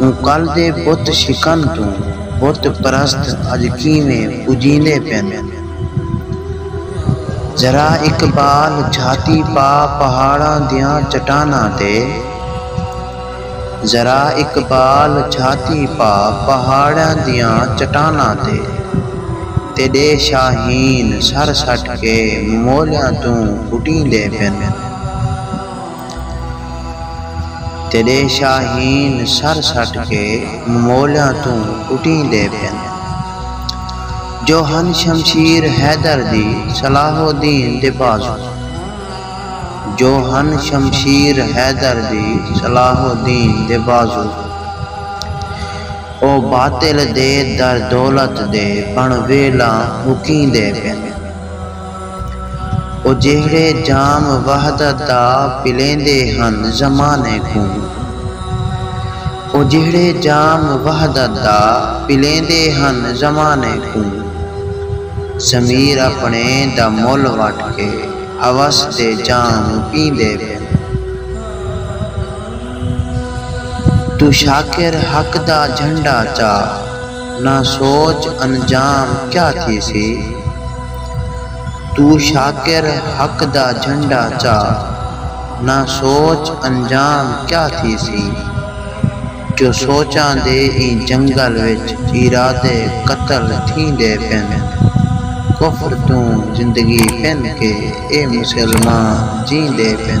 اوں کل دے بت شکن توں بت پرست اڄ کیویں پجیندے پن۔ ذرا اقبال جھاتی پا پہاڑاں دیاں چٹاناں تے۔ ذرا اقبال جھاتی پا پہاڑاں دیاں چٹاناں تے۔ تیݙے شاہین سر سٹ کے ممولیاں توں پٹیندے پن۔ تیݙے شاہین سر سٹ کے مولیاں توں کٹیندے پن جو ہن شمشیر حیدر دی صلاح الدین دے بازو جو ہن شمشیر حیدر دی صلاح الدین دے بازو او باطل دے در دولت دے بݨ ویلاں مکیندے پن۔ او جیہڑے جام وحدت دا پلیندے ہن زمانے کوں۔ او جیہڑے جام وحدت دا پلیندے ہن زمانے کوں۔ ضمیر اپݨے دا مل وٹ کے ہوس دے جام پیندے پن۔ توں شاکر حق دا جھنڈا چا۔ نہ سوچ انجام کیا تھیسی۔ توں شاکر حق دا جھنڈا چا۔ نہ سوچ انجام کیا تھیسی۔ جو سوچاں دے ایں جنگل وچ ارادے قتل تھیندے پن۔ کفر توں زندگی پن کے اے مسلمان جیندے پن۔